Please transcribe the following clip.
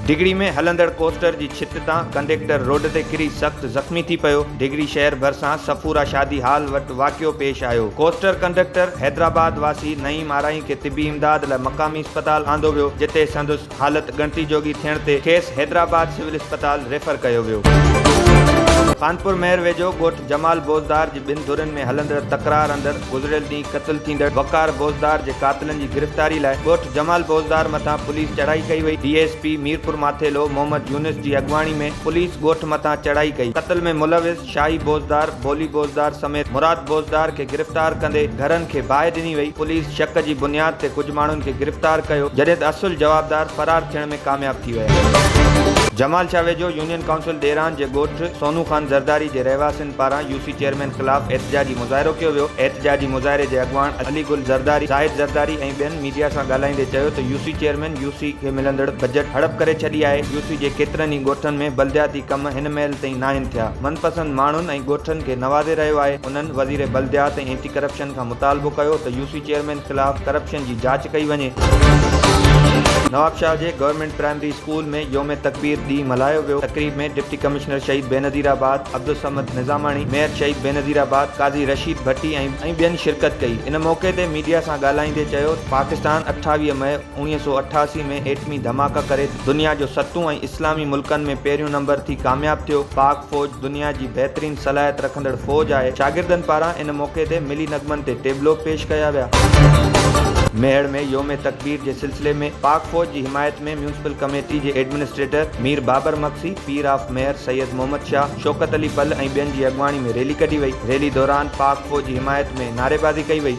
ڊگهڙي ۾ هلندڙ ڪوسٽر جي ڇت تان ڪنڊيڪٽر روڊ تي ڪري سخت زخمي ٿي پيو، ڊگهڙي شهر ڀرسان صفورا شادي هال وٽ واقعو پيش آيو، ڪوسٽر ڪنڊڪٽر حيدرآباد واسي نعيم آرائين کي طبي امداد لاء مقامي اسپتال آندو ويو جتي سندس. حالت ڳڻتي جوڳي ٿيڻ تي کيس حيدرآباد سول اسپتال ريفر ڪيو ويو. خانپور مهر ويجهو ڳوٺ جمال بوزدار جي ٻن ڌرين ۾ هلندڙ تڪرار اندر گذريل ڏينهن قتل ٿيندڙ وقار بوزدار جي قاتلن جي گرفتاري لاء ڳوٺ جمال بوزدار مٿان پوليس چڙهائي ڪئي وئي، D S P Mirpur Mathelo Muhammad Younis جي اڳواڻي ۾ پوليس ڳوٺ مٿان چڙهائي ڪئي، قتل ۾ ملوث. شاهي بوزدار، ڀولي بوزدار سميت مراد بوزدار کي گرفتار ڪندي گهرن کي باهه ڏني وئي، پوليس شڪ جي بنياد تي ڪجهه ماڻهن کي گرفتار ڪيو، جڏهن ته اصل جوابدار فرار ٿيڻ ۾ ڪامياب ٿي ويا. جمال شاهه ويجهو يونين ڪائونسل ڏيران جي ڳوٺ سونو خان زرداري جي رهواسين پاران يو سي چيئرمين خلاف احتجاجي مظاهرو ڪيو ويو، احتجاجي مظاهري جي اڳواڻ علي گل زرداري، زاهد زرداري ۽ ٻين ميڊيا سان ڳالهائيندي چيو ته U C chairman U C کي ملندڙ بجيٽ هڙپ ڪري ڇڏي آهي، يو سي جي ڪيترن ئي ڳوٺن ۾ بلدياتي. ڪم هن مهل تائين ناهن ٿيا، من پسند ماڻهن ۽ ڳوٺن کي نوازي رهيو آهي، انهن وزير بلديات ۽ اينٽي ڪرپشن کان مطالبو ڪيو ته يو سي چيئرمين خلاف ڪرپشن جي جاچ ڪئي وڃي. نوابشاهه جي گورنمينٽ پرائمري اسڪول ۾ يوم تڪبير ڏينهن ملهايو ويو، تقريب ۾ ڊپٽي ڪمشنر شهيد بينظير آباد عبدالصمد نظاماڻي، ميئر شهيد بينظير آباد قاضي رشيد ڀٽي ۽ ٻين شرڪت ڪئي، ان موقعي تي ميڊيا سان ڳالهائيندي چيو ته پاڪستان اٺاويهه مئي، اڻيهه سؤ اٺاسي ۾ ايٽمي ڌماڪا ڪري دنيا جو ستون ۽ اسلامي ملڪن ۾ پهريون نمبر ٿي ڪامياب ٿيو. پاڪ فوج دنيا جي بهترين صلاحيت رکندڙ فوج آهي. شاگردن پاران ان موقعي تي ملي نغمن تي ٽيبلو پيش ڪيا ويا. ميهڙ ۾ يوم تڪبير جي سلسلي ۾ پاڪ فوج جي حمايت ۾ ميونسپل ڪميٽي جي ايڊمنسٽريٽر مير بابر مگسي، پير آف ميهر سيد محمد شاهه، شوڪت علي پل ۽ ٻين جي اڳواڻي ۾ ريلي ڪڍي وئي. ريلي دوران پاڪ فوج جي حمايت ۾ نعريبازي ڪئي وئي.